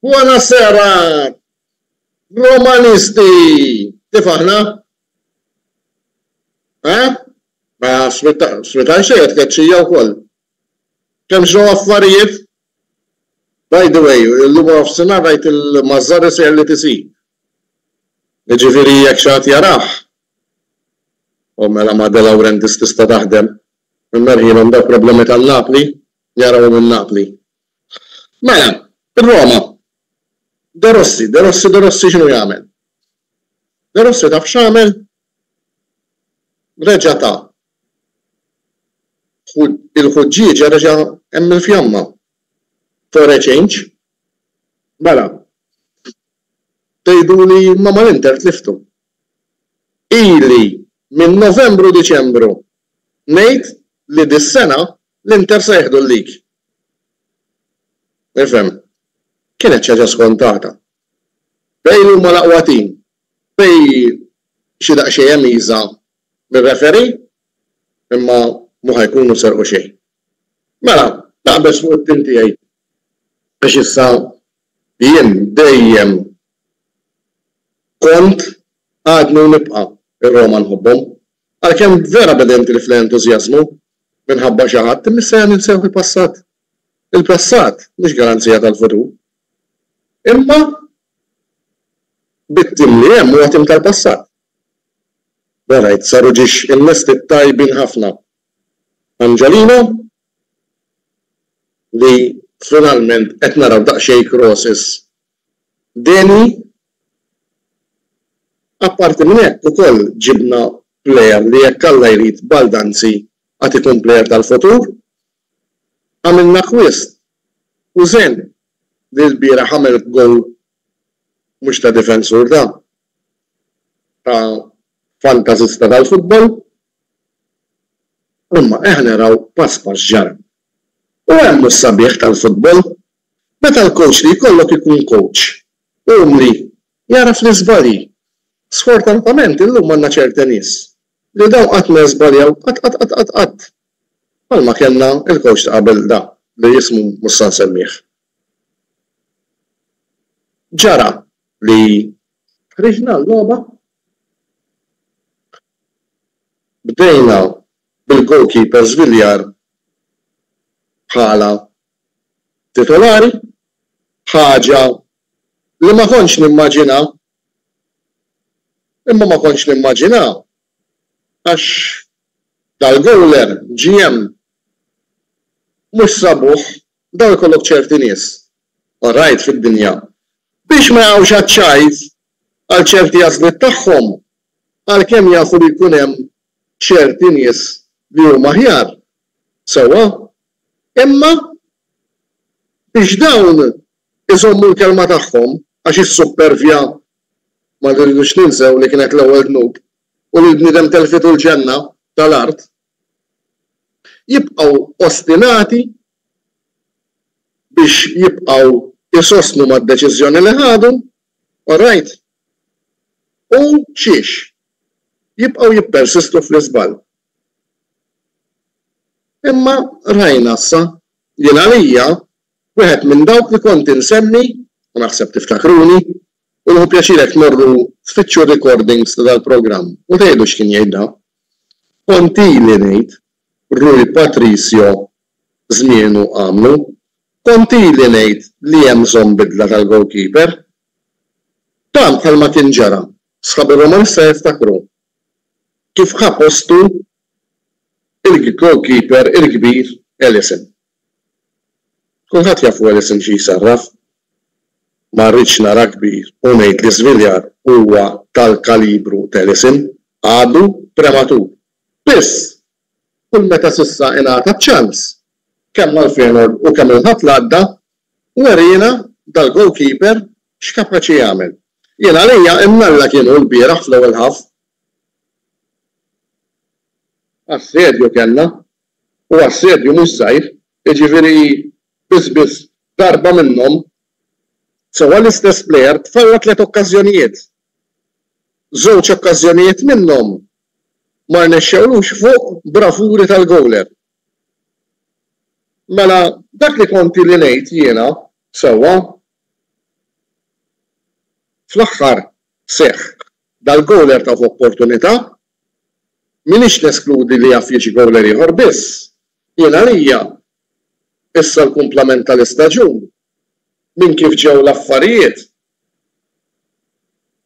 Buona sera, Romanisti! Kif aħna? Eh? Ma sweetaj xejn qed tkeċċija wkoll. Kemm ġraw affarijiet? By the way, illum waranofsinhar rajt il-Mazzarri sejjer l-ETC. Jiġifieri jekk xi ħadd jarah. O mela ma' De Laurentiis tista' taħdem. Imma rħilhom dawk problemi tan-Napli. Jarawhom minn Napli. Mela, ir-Roma. De Rossi, De Rossi, De Rossi x'inhu jagħmel? De Rossi taf x'għamel? Reġa' ta il-ħuġġieġa reġa' hemm il-fjamma. For a change. Mela, tgħiduli ma mal-Inter tliftu. Ili minn Novembru-Diċembru ngħid li dis-sena L-Inter se jieħdu l-league. Ifhem, kienet xi ħaġa skontata. Bale huma l-aqwa tim. Bale xi daqsxejn hemm iża' mir-referee, imma mhu ħa jkunu serqu xejn. Mela, naqbeż fuq it-tim tiegħi għax issa jien dejjem kont, għadni u nibqa' ir-Roma nħobbhom. Għalkemm vera b'edenti li fl-entużjażmu minħabba xi ħadd imissejja ninsew il-passat. Il-passat mhux garanzija tal-futur. Imma bit-tim li hemm huwa tim tal-passat. Borajt saru ġiex innesti tajbin ħafna. Angelino li finalment qed naraw daqsxejn crosses Deni, Apparti minn hekk ukoll ġibna plejer li jekk Alla jrid Baldanzi għad ikun plejer tal-futur. Għamilna acquist u Zen li lbieraħ għamel gowl mhux ta' difensur ta' ta' fantasista tal-futbol. Imma eħ naraw pass pass ġara. U hemm hu s-sabiħ tal-futbol Meta l-kowċ li jkollok ikun kowċ umli, jagħraf l-iżbalji. Sfortunatament illum għandna ċerte nies li dawn qatt ma jiżbaljaw, qatt qatt qatt qatt qatt. Bħalma kellna l-kowċ ta' qabel da li ismu mhux sa nsemmih. Ġara li ħriġna l-logħba, bdejna bil-goalkeeper żviljar bħala titolari, ħaġa li ma kontx nimmaġina. Imma ma kontx nimmaġina għax dal-gowler ġie hemm. Mhux sabuh, daw ikollok ċerti nies, orajt, fid-dinja, biex ma jaqgħux għaċ-ċajt għal ċerti għażliet tagħhom, għalkemm jafu li jkun hemm ċerti nies li huma aħjar. Sewwa, Imma biex dawn iżommu l-kelma tagħhom, għax is-suppervja, ma rridux ninsew li kienet l-ewwel dnub u li l-bniedem telfitu l-ġenna ta' l-art, jibqgħu ostinati biex jibqgħu jsostnu mad-deċiżjoni li ħadu, orajt? U xiex? Jibqgħu jippersistu fl-iżball. Imma rajna issa, jien għalija, wieħed minn dawk li kont insemmi, u naħseb tiftakruni, u nieħu pjaċir jekk tmorru tfittxu r-recordings ta' dal-programm u tgħidu x'kien jgħidha, kont ili ngħid, Rui Patricio żmienu għamlu, kont ili ngħid li hemm bżonn bidla tal-goalkeeper. Dan bħalma kien ġara, sħabi Romanista jiftakru, kif ħa postu l-goalkeeper il-kbir Alisson. Kulħadd jafu Alisson xi jsarraf. Ma rridx nara kbir u ngħid li Sviljar huwa tal-kalibru t'Alisson, għadu prematur. Biss, kull meta s'issa ingħata ċ-ċans, kemm mal-Feyenoord u kemm il-Ħadd l-għadda, weriena dal-goalkeeper X'kapaċi jagħmel? Jien għalija imnalla kien hu lbieraħ fl-ewwel half. Assedju kellna, u assedju mhux żgħir, jiġifieri biss biss darba minnhom sewwa l-istess plejer tfalla tliet okkażjonijiet. Żewġ okkażjonijiet minnhom ma rnexxewlux fuq bravuri tal-gowler. Mela dak li kont ili ngħid jiena sewwa Fl-aħħar seħħ dal-gowl ertgħu f'opportunità. M'iniex neskludi li jaf jiġi gowler ieħor biss jien għalija issa l-kumplament tal-istaġun minn kif ġew l-affarijiet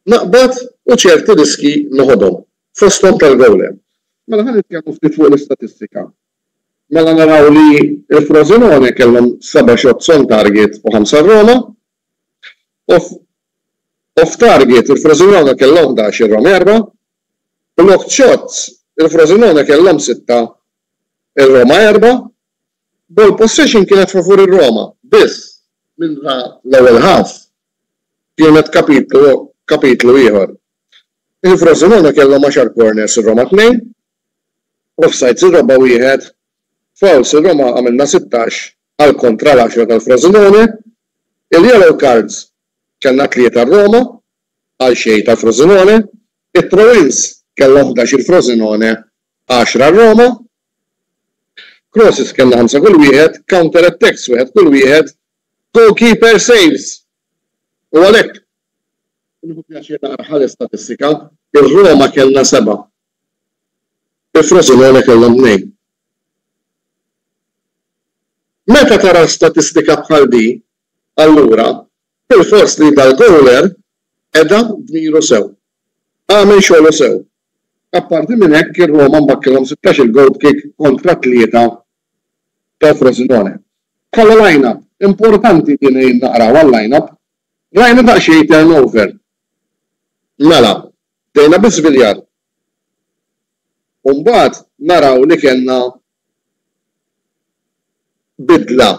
naqbad u ċerti riskji noħodhom, fosthom tal-gowler. Mela ħa nitkellmu ftit fuq l-istatistika. Mela naraw li l-Frosinone kellhom seba' shots on target u ħamsa r-Roma. Off off target il-Frosinone kellhom ħdax ir-Roma erbgħa. Blocked shots il-Frosinone kellhom sitta ir-Roma erbgħa. Ball possession kienet favur ir-Roma biss minnha l-ewwel half kienet kapitlu kapitlu ieħor. Il-Frosinone kellhom għaxar corners ir-Roma tnejn. Offsides ir-Raba' wieħed, fouls ir-Roma għamilna sittax għal kontra l-għaxra tal-Frosinone. Il-yellow cards kellna tlieta r-Roma għal xejn tal-Frosinone. It-throw-ins kellhom ħdax il-Frosinone, għaxra r-Roma. Crosses kellna ħamsa kull wieħed, counter attacks wieħed kull wieħed, goalkeeper saves. U għalhekk, nieħu pjaċir naqra ħares statistika, ir-Roma kellna seba' Il-Frosinone kellhom tnejn. Meta tara statistika bħal di, allura bilfors li dal-gowler qeda dmiru sew. Għamel xogħlu sew. Apparti minn hekk ir-Roma mbakkilhom sittax-il goal kick kontra t-tlieta tal-Frosinone. Bħala line-up, importanti din li naqraw għal line-up, rajna daqsxejn turnover. Mela, Bdejna biż-żbiljar u mbagħad naraw li kellna bidla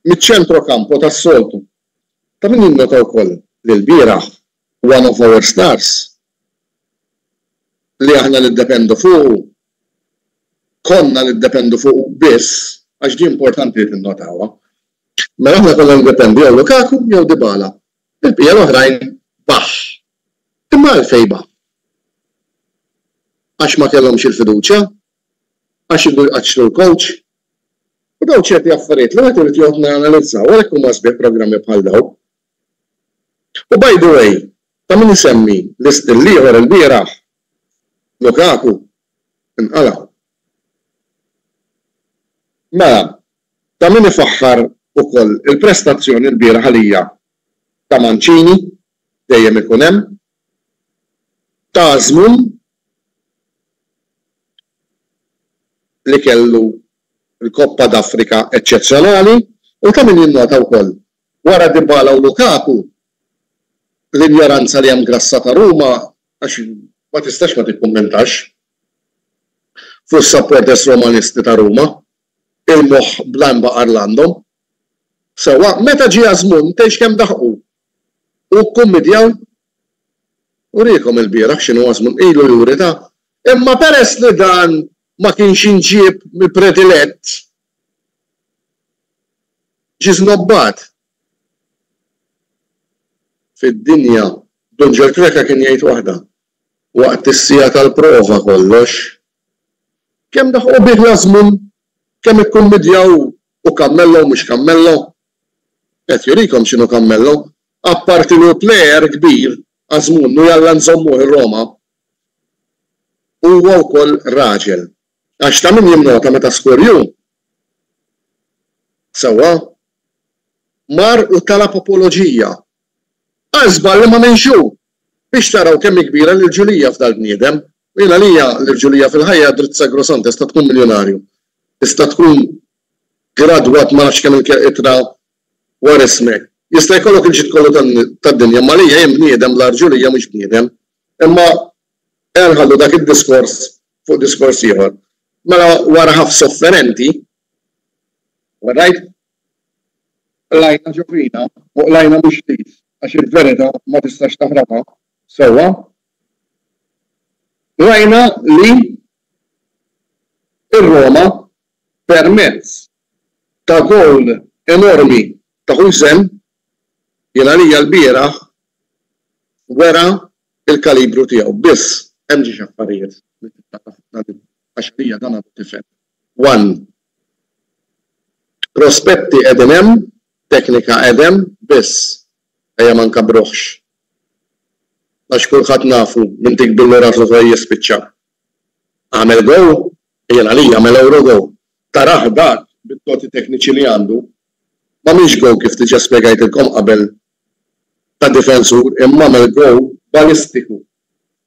miċ-ċentro campo tas-soltu. Ta' min jinnota wkoll li lbieraħ one of our stars li aħna niddependu fuqu, konna niddependu fuqu biss, għax di importanti li tinnotawha, mela aħna konna niddependu jew Lukaku jew Dybala. Il-bqija l-oħrajn baħħ. Imma għalfejn baqgħu? Għax ma kellhomx il-fiduċja? Għax iridu jqaċċtu l-kowċ? U dawn ċerti affarijiet li wieħed irid joqgħod janalizza u għalhekk huma sbieħ programmi bħal dawn. U by the way, ta' min isemmi li still ieħor ilbieraħ, Lukaku, inqala'. Mela, ta' min ifaħħar ukoll il-prestazzjoni lbieraħ għalija ta' Mancini dejjem ikun hemm, tagħżmu li kellu l-Coppa d'Africa eċċezzjonali u ta' min jinnota wkoll, wara Dybala u Lukaku, l-injoranza li hemm grassa ta' Ruma għax ma tistax ma tikkummentax fuq is-supporters Romanisti ta' Ruma, il-moħħ bl-għanbaqar l-għandhom. Sewwa, meta ġie Azmoun, tgħidx kemm daħqu, Hu kkummidjaw? Uriehkom ilbieraħ x'inhu Asmun ilu juri ta'. Imma peress li dan ma kienx inġieb mill-predilett, ġie żnobbat. Fid-dinja, Dun Ġorġ Kreca kien jgħid waħda, Waqt is-siegħa tal-prova kollox. Kemm daħqu bih l-Asmun, kemm ikkummidjaw hu kammello u mhux kammello, Qed jurikom x'inhu Cammello. Apparti li hu player kbir, Azmoun, u jalla nżommuh ir-Roma, huwa wkoll raġel. Għax ta' min jinnota meta Scorju, sewwa, mar u talab apoloġija, qal żball li m'għamilx hu! Biex taraw kemm hi kbira l-irġulija f'dal-bniedem. U jien għalija l-irġulija fil-ħajja dritt sacrosantes ta' tkun miljunarju. Tista' tkun gradwat ma nafx kemm-il ittra dwar ismek. Jista' jkollok il-ġid kollu tad-dinja, imma għalija jien bniedem bla rġulija mhux bniedem. Imma ejja nħallu dak id-diskors fuq diskors ieħor. Mela wara ħaf sofferenti, orrajt, qlajna ġo fina u qlajna mhux ftit għax il-verità ma tistax taħrabha sewwa, rajna li r-Roma permezz ta' gowl enormi ta' Huijsen li għalija lbieraħ wera l-kalibru tiegħu. Biss hemm xi affarijiet li trid tara fuq dan il-gowl għax għalija dan għadu tifel. One, prospetti qegħdin hemm, teknika qed hemm, biss ejja ma nkabruhx għax kulħadd nafu min tikbi l-ura fl-uħuħ jispiċċa. Agħmel Go, jien għalija għamel Eurogo, tarah dak bit-toti tekniċi li għandu, m'għamilx Go kif diġa spjegajtilkom qabel ta' difensur imma għamel Go balistiku,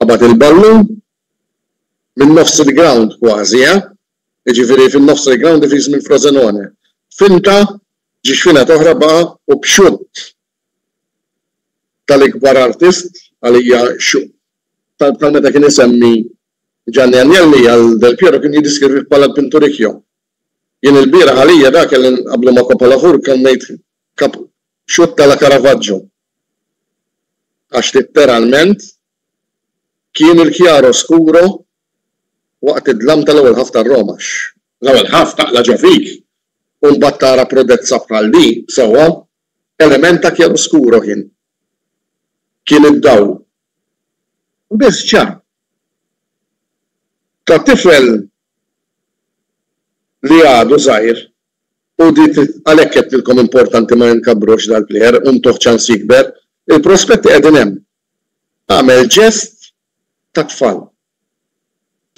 qabad il-ballun minn nofs il-grawnd kważi eh, jiġifieri fin-nofs tal-grawnd ifiż minn Frosenone, finta, ġie x'finat oħra baqa' u b'xutt tal-ikbar artist għalija bħal meta kien isemmi Gianni Agnelli għal Del Piero kien jiddiskrivih bħala l-pinturicchio. Jien ilbieraħ għalija dak kelli nqabblu ma' Copolafur kemm ngħid xutt ta' la Caravaggio. Għax litteralment kien il-chiaro scuro waqt id-dlam tal-ewwel ħaff tar-Roma. L-ewwel ħaff taqla' ġo fik u mbagħad tara prodezza bħal din sewwa Element ta' chiaroscuro kien. Kien id-dawl. Biss ċar. Ta' tifel li għadu żgħir u di għalhekk għedtilkom importanti ma inkabbrux dal-plejer u ntuh ċans jikber. Il-prospetti qegħdin hemm. Għamel ġest ta' tfal.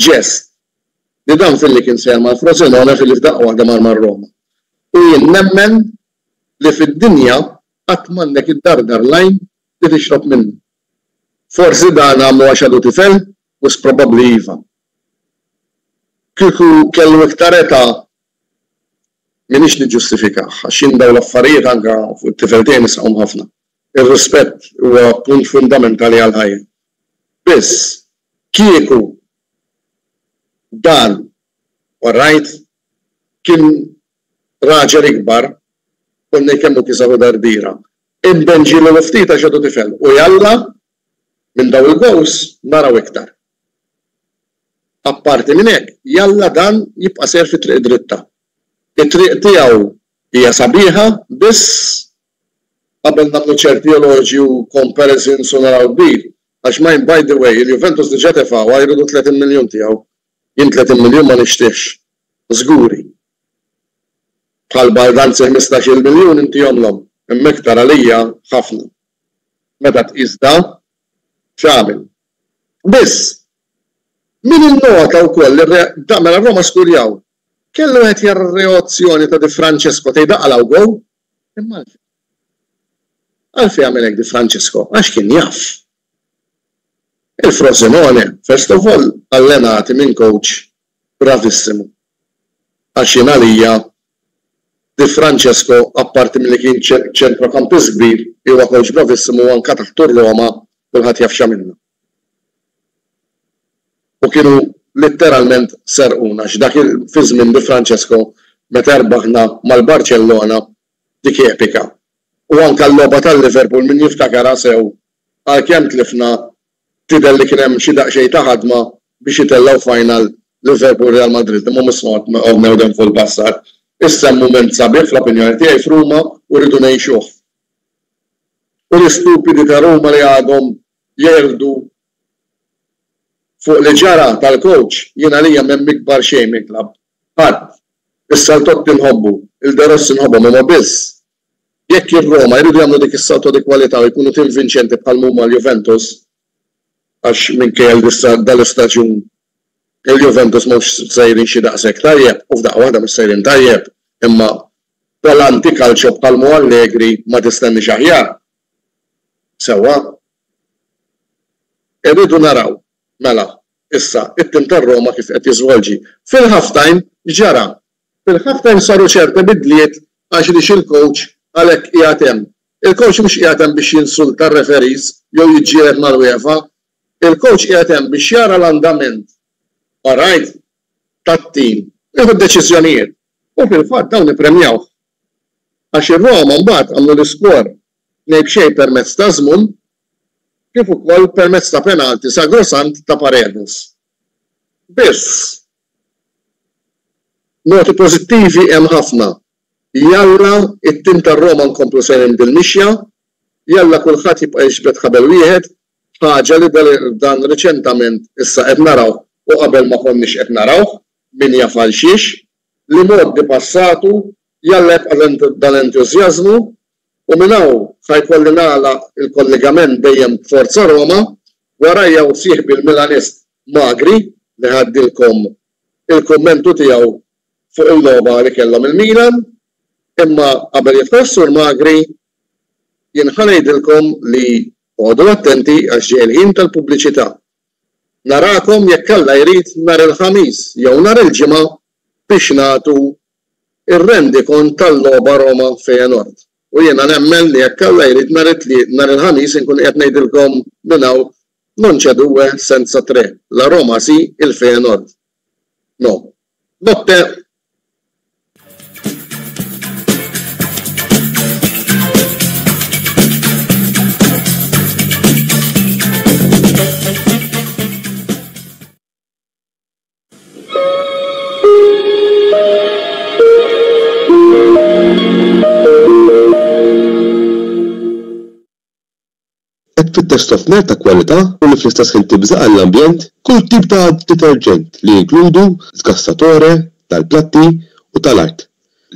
Ġest. Li dan filli kien sejjer mal-Frosinone filli f'daqqa waħda mar mar-Roma. U jien nemmen li fid-dinja qatt m'għandek iddardar l-għajn li tixrob minnu. Forsi dan għamlu għax għadu tifel? Wisq probabbli iva. Kieku kellu iktar età m'iniex niġġustifikah għax jien dawn l-affarijiet anke fuq it-tifel tiegħi nisħqhom ħafna. Ir-rispett huwa punt fundamentali għall-ħajja. Biss, kieku dan, u rajt, kien Raġel ikbar, Konnej kemm hu kisaħ u dardira. Imben ġieli hu ftit għax għadu tifel u jalla minn dawn il-goals naraw iktar. Apparti minn hekk, jalla dan jibqa' sejjer fit-triq id-dritta. It-triq tiegħu hija sabiħa biss qabel nagħmlu ċerti eloġji u comparisons u naraw kbir għax mind by the way il-Juventus diġà tefgħuha jridu 30 miljun tiegħu Jien tletin miljun ma nixtiex. Żguri. Bħal baldanzi ħmistax-il miljun inti omlhom, imma iktar għalija ħafna. Meta tqis da, x'għamil. Biss, min innota wkoll li r-re da mela r-Roma skurjaw. Kellu wieħed jara r-reozzjoni ta' Di Francesco tgħid aqala u gow. Imma għalfejn? Għalfejn għamel hekk Di Francesco? Għax kien jaf. Il Frosinone first of all allenati minn coach bravissimu għax jien għalija Di Francesco apparti milli kien ċentrokampist kbir huwa coach bravissimu anke taħt u r-Roma kulħadd jaf x'għamilna u kienu litteralment serquna għax dak fi żmien Di Francesco meta rbaħna mal Barcellona dik epika u anke l-logħba tal Liverpool min jiftakarha sew Għalkemm tlifna, tidher li kien hemm xi daqsxejn ta' ħadma biex jitellgħu final Liverpool Real Madrid imma mhux smart of now them full passat. Issa hemm mument sabiħ fl-opinjoni tiegħi f'Ruma u rridu ngħixuh. U l-istupidi ta' Ruma li għadhom jerqdu fuq li ġara tal-coach jien għalija m'hemm ikbar xejn mill-club. Ħadd. Issa 'l Totti nħobbu, 'l De Rossi nħobbhom imma biss Jekk ir-Roma jridu jagħmlu dik is-salto di qualità u jkunu tim vinċenti bħalma huma l-Juventus, għax minkejja li s'issa dan l-istaġun il-Juventus mhux sejrin xi daqshekk tajjeb, u f'daqqa waħda mhux sejrin tajjeb, imma bħala anti-calcio bħalma hu Allegri ma tistenniex aħjar. Sewwa. Irridu naraw, mela, issa, it-tim tar-Roma kif qed jiżvolġi. Fil-half-time x'ġara? Fil-half time saru ċerta bidliet għax li x'il-coach għalhekk qiegħed hemm. Il-coach mhux qiegħed hemm biex jinsulta r-referees jew jiġġieled mal-UEFA. Il-coach qiegħed hemm biex jara l-andament, alright, tat-team u jieħu d-deċiżjonijiet. U fil-fatt dawn ippremjawh. Għax ir-Roma mbagħad għamlu l-iskor tnejn b'xejn permezz ta' żmum kif ukoll permezz ta' penalti sagrosant ta' Paredes. Biss, Noti pożittivi hemm ħafna. Jalla it-tim tar-Roma nkomplu sejrin bil-mixja. Jalla kulħadd jibqa' jiġbed ħabel wieħed, ħaġa li dan riċentament issa qed narawh u qabel ma konniex qed narawh, min jaf għal xiex. Li mgħoddi passatu, jalla jibqa' dan l-entużjażmu u minn hawn sa jkolli nagħlaq il-kollegament dejjem b'Forza Roma, warajja u sieħbi l-Milanist Magri li ħaddilkom il-kummentu tiegħu fuq il-logħba li kellhom il-Milan, imma qabel jidħol is-Sur Magri jien ħa ngħidilkom li oqogħdu attenti għax ġej il-ħin tal-pubbliċità. Narakom jekk Alla jrid nhar il-Ħamis jew nhar il-Ġimgħa biex nagħtu ir-rendikont tal-logħba Roma, Feyenoord, u jiena nemmen li jekk Alla jrid nhar it-Tliet, nhar il-Ħamis inkun qiegħed ngħidilkom minn hawn non c'è due senza tre, la Roma si, il Feyenoord no. Notte! Qed tfittex sofner ta' kwalità u li fl-istess ħin tibża' għall-ambjent? Kull tip ta' deterġent li jinkludu sgassatore tal-platti u tal-art,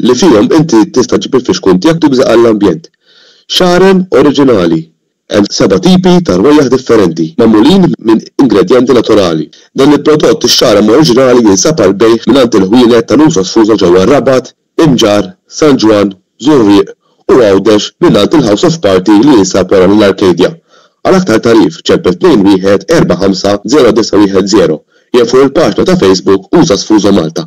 li fihom inti tista' ġġib il-fixkun tiegħek tibża' għall-ambjent. Xarem oriġinali, Hemm seba' tipi ta' rwejjaħ differenti, magħmulin minn ingredjenti naturali. Dan il-prodott ix-xarama oriġinali jinsab għall-bejgħ mingħand il-ħwienet ta' Nusa Sfuża ġewwa r-Rabat, Imġarr, San Ġwann, Żurrieq u Għawdex mingħand il-House of Party li jinsab wara l-Arcadia. Għal aktar tagħrif ċempel 21 45 0910 jew fuq il-paġna ta' Facebook Usa Sfuża Malta.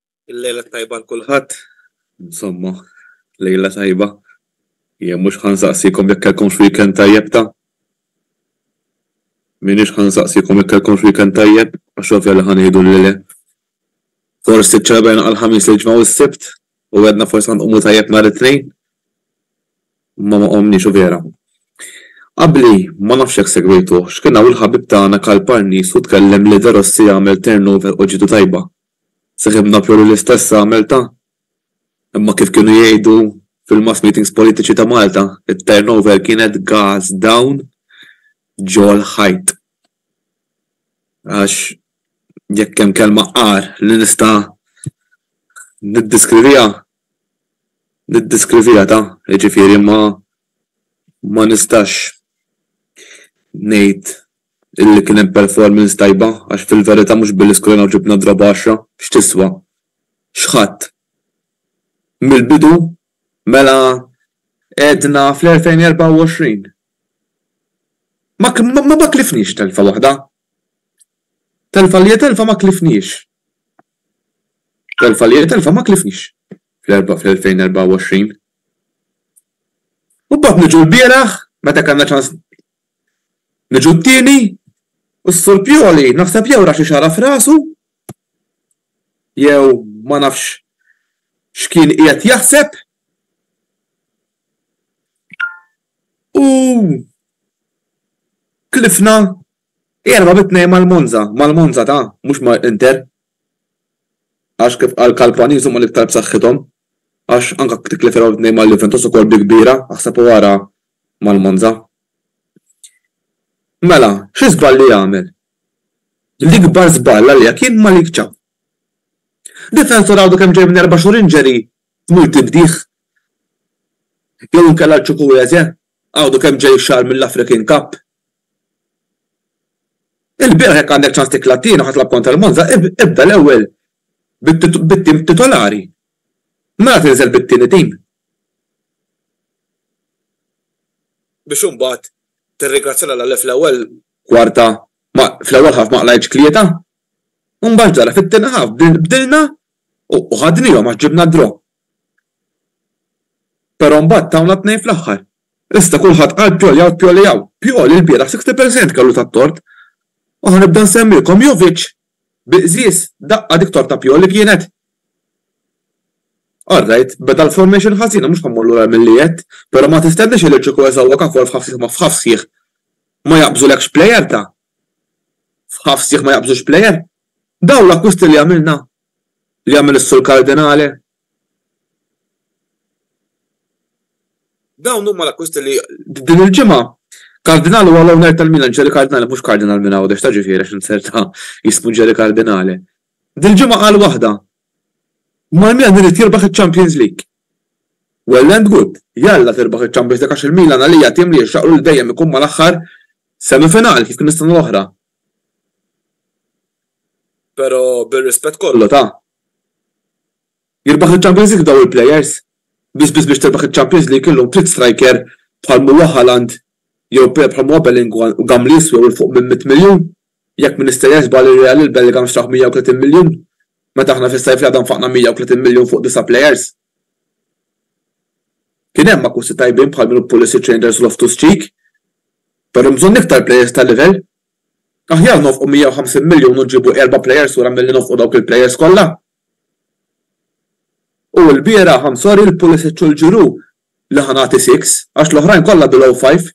Il-lejla t-tajba għal kulħadd. Insomma, lejla tajba. Jien mhux ħa nsaqsikom jekk kellkomx weekend tajjeb ta'. M'iniex ħa nsaqsikom jekk kellkomx weekend tajjeb, għax ovvja li ħa ngħidu li le. Forsi ċċelebrajna għall-Ħamis, l-Ġimgħa u s-Sibt, u għedna forsi ħa nqumu tajjeb nhar it-Tnejn. Imma ma qomniex u vera. Qabli, ma nafx jekk segwejtuh, x'kien hawn il-ħabib tagħna Karl Parnis u tkellem li De Rossi għamel turnover u ġietu tajba. Sakemm naf jolli l-istess għamiltha. Imma kif kienu jgħidu fil-mass meetings politiċi ta' Malta, it-turnover kienet gas down ġol-ħajt. Għax jekk hemm kelma agħar li nista' niddeskriviha, niddeskriviha ta', jiġifieri ma ma nistax ngħid li kien hemm performance tajba għax fil-verità mhux billi skorajna u ġibna draw b'għaxra x'tiswa? X'ħadt? Mill-bidu mela għedna fl-2024 ma ma ma tlifniex telfa waħda. Telfa li hija telfa ma tlifniex. Telfa li hija telfa ma tlifniex fl-2024. U mbagħad niġu l-bieraħ meta kellna ċans Niġu t-tieni? U s-Sur Pioli naħseb jew ra xi xagħra f'rasu, jew ma nafx x'kien qiegħed jaħseb, u tlifna erba' bi tnejn mal-Monza, mal-Monza ta', mhux ma' Inter. Għax kif qal Kalpaniz huma l-iktar b'saħħithom, għax anke titlef erba' bi tnejn mal-Juventus ukoll bi kbira, aħseb u ara mal-Monza. Mela, xi żballi jagħmel? L-ikbar żball għalija kien Malik Thiaw. Difensur għadu kemm ġej minn erba' xhur injury tmur tibdih? Jew inkella l-Chukwueze għadu kemm ġej xahar mill-African Cup? Ilbieraħ jekk għandek ċans tikla t-tieni u ħa tilgħab kontra l-Monza, ibda l-ewwel bit-tim titolari Mela tinżel bit-tieni tim biex imbagħad tirringrazzja lil Alla li fl-ewwel kwarta ma fl-ewwel half ma qlgħitx tlieta u mbagħad ġara fit-tieni half bdilna u ħadniehom għax ġibna d-draw. Però mbagħad tawna tnejn fl-aħħar. Issa kulħadd qal Pioli hawn Pioli hawn. Pioli lbieraħ 60 percent kellu tat-tort u ħa nibda nsemmilkom Jovic Bi qżież, daqqa dik torta pjol li kienet! All right, beda l-formation ħażin u mhux ħammur lura għal milli għedt, però ma tistenniex illi kieku eżgħuwek akwar f'ħaff sieħ ma f'ħaff sieħ ma jaqbżulekx player ta' f'ħaff sieħ ma jaqbżux player! Dawn l-akkwisti li għamilna, li għamel is-Sur Cardinale, Dawn huma l-akkwisti li din il-ġimgħa Kardinal huwa l-owner tal-Milan, Jerry Cardinale, mhux Kardinal minn Għawdex ta' ġifieri għax inzerta jismu Jerry Cardinale. Dil-ġimgħa qal waħda, Mal-Milan irid jirbaħ iċ-Champions League. Well and good, jalla tirbaħ iċ-Champions League għax il-Milan għalija tim li jixraqlu li dejjem ikun mal-aħħar semifinali kif kien is-sena l-oħra. Però bir-rispett kollu ta, Jirbaħ il-Champions League dawn il-players? Biss biss biex tirbaħ il-Champions League illum trid striker bħal m'huwa Haaland jew player bħal m'huwa Bellinguan u Gam li jiswew 'il fuq minn mitt miljun? Jekk m'iniex sejjer żball ir-Real lil Bellingham xtrah 130 miljun meta aħna fis-sajf li għadha nfaqna 130 miljun fuq disa' players. Kien hemm akkusti tajbin bħal minnu Pulisic, Reijnders u Loftus-Cheek. Però hemm bżonn iktar players ta' livell Aħjar nofqu 150 miljun u nġibu erba' plejers lura milli nofqu dawk il-plejers kollha. U lbieraħ I'm sorry l-Pulisic u l-Giroud li ħa nagħti six għax l-oħrajn kollha below five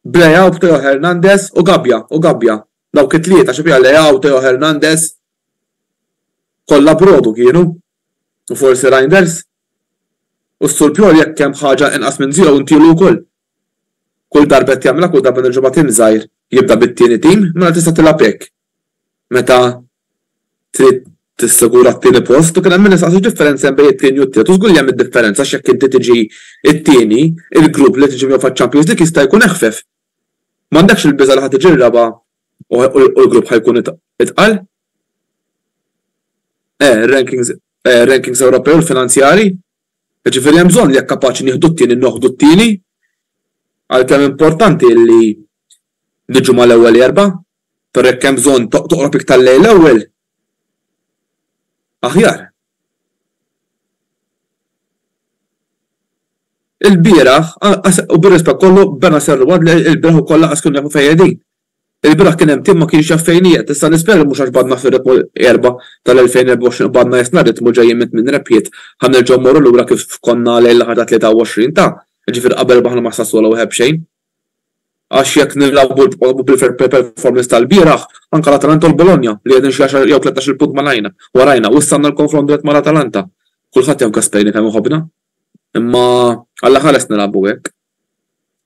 b'Leao b'Teo Hernandez u Gabbia u Gabbia dawk it-tlieta xi fiha Leao Teo Hernandez kollha brodu kienu u forsi Reijnders u s-Sur Piol jekk hemm ħaġa inqas minn zero intielu wkoll. Kull darba qed jagħmilha kull darba nerġgħu ma' tim żgħir jibda bit-tieni tim mela tista' tilgħab hekk meta trid tissigura t-tieni post u kien hemm min isaqsi x'differenza hemm bejn it-tieni u t-tielet u żgur li hemm id-differenza għax jekk inti tiġi t-tieni il-grupp li tiġi miegħu faċ-Champions League jista' jkun eħfef. M'għandekx il-biża' li ħa tiġi r-raba' u l-grupp ħa jkun itqal? Eh, ir-rankings Ewropej u l-finanzjarji Jiġifieri hemm bżonn li jekk kapaċi nieħdu t-tieni noħdu t-tieni, għalkemm importanti illi niġu mal-ewwel erba', però jekk hemm bżonn toqrob iktar lejn l-ewwel, aħjar. Ilbieraħ, u bir-rispett kollu, Benacerralwadle ilbieraħ ukoll lanqas kienu jafu fejn qegħdin. Il-bieraħ kien hemm tim ma kienx jaf fejn qiegħed, issa l-ispjega mhux għax qbadna fir-ritmu l-Erbgħa tal-2024 qbadna jesna ritmu ġejjin minn tmien rebħiet ħa nerġgħu mmorru lura kif konna lejn l-aħħar ta' 23 ta' jiġifieri qabel rbaħna ma' Sassuolo 1 b'xejn għax jekk nilgħabu bil-fair play performance tal-bieraħ anke l-Atalanta u l-Bologna li qegħdin xi għaxar jew tlettax-il punt malajna warajna u issa għandna l-konfront dirett mal-Atalanta kulħadd jaf Gasperini kemm iħobbna imma alla ħa lest nilgħabu hekk.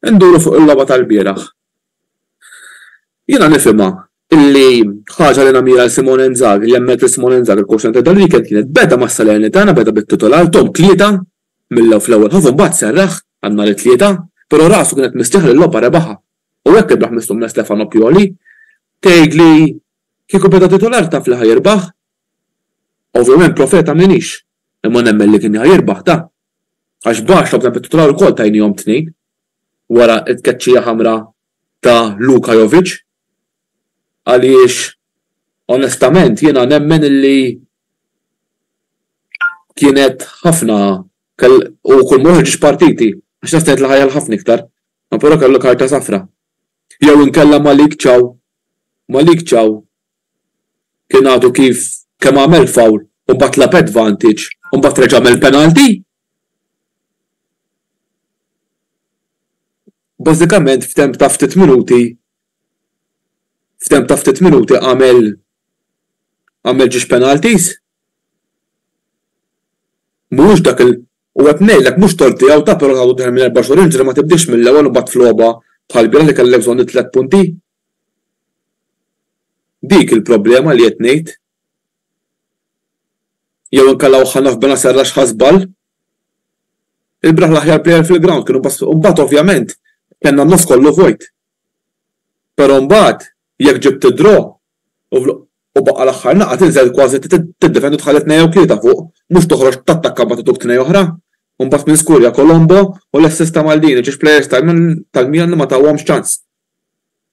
Induru fuq il-logħba tal-bieraħ Jiena nifhimha li ħaġa li namira l-Simone Inzaghi, li hemmhekk li Simone Inzaghi l-quotient ta' dan l-weekend kienet beda ma' Salernitana, beda bit-titular Tom tlieta mill-ewwel fl-ewwel ħof u mbagħad serraħ għal nhar it-Tlieta, però rasu kienet mistrieħa li l-logħba rebaħha u hekk rebaħ mistomm minn Stefano Pioli. Tgħid li kieku beda titular taf li ħa jirbaħ? Ovvjament profeta m'iniex, imma nemmen li kien ħa jirbaħ ta. Għax baxx logħbna bit-titular ukoll tajniehom tnejn. wara t-tkeċċija ħamra ta' Luka Jovic għaliex onestament jiena nemmen illi kienet ħafna u kull ma joħorġx partiti għax naf kienet l-aħjar ħafna iktar ma però kellu karta safra jew inkella Malik Thiaw Malik Thiaw kien għadu kif kemm għamel foul u mbagħad lagħab advantage u mbagħad reġa' għamel penalty Bażikament f'temp ta' ftit minuti f'temp ta' ftit minuti għamel għamel ġiex penalties. Mhuwiex dak il-, u qed ngħidlek mhux tort tiegħu ta' però nagħtu dehra minn erba' xhur inġri ma tibdiex mill-ewwel u mbagħad f'logħba bħall-bieraħ li kellek bżonn it-tliet punti. Dik il-problema li qed ngħid. Jew inkalawh ħa naf Benacerra għax ħa żball. Il-bieraħ l-aħjar plejer fil-grawnd kienu Bassli u mbagħad ovvjament kellna n-nofs kollu vojt. Però mbagħad jekk ġibt id-draw u baqa' l-aħħar naqa' tinżel kważi tiddefendi u tħalli tnejn jew tlieta fuq, mhux toħroġ tattakka mbagħad ituk tnejn oħra. U mbagħad minn skurja Colombo u l-assist ta' Maldini, ġiex plejers tal-Milan li ma tawhomx ċans.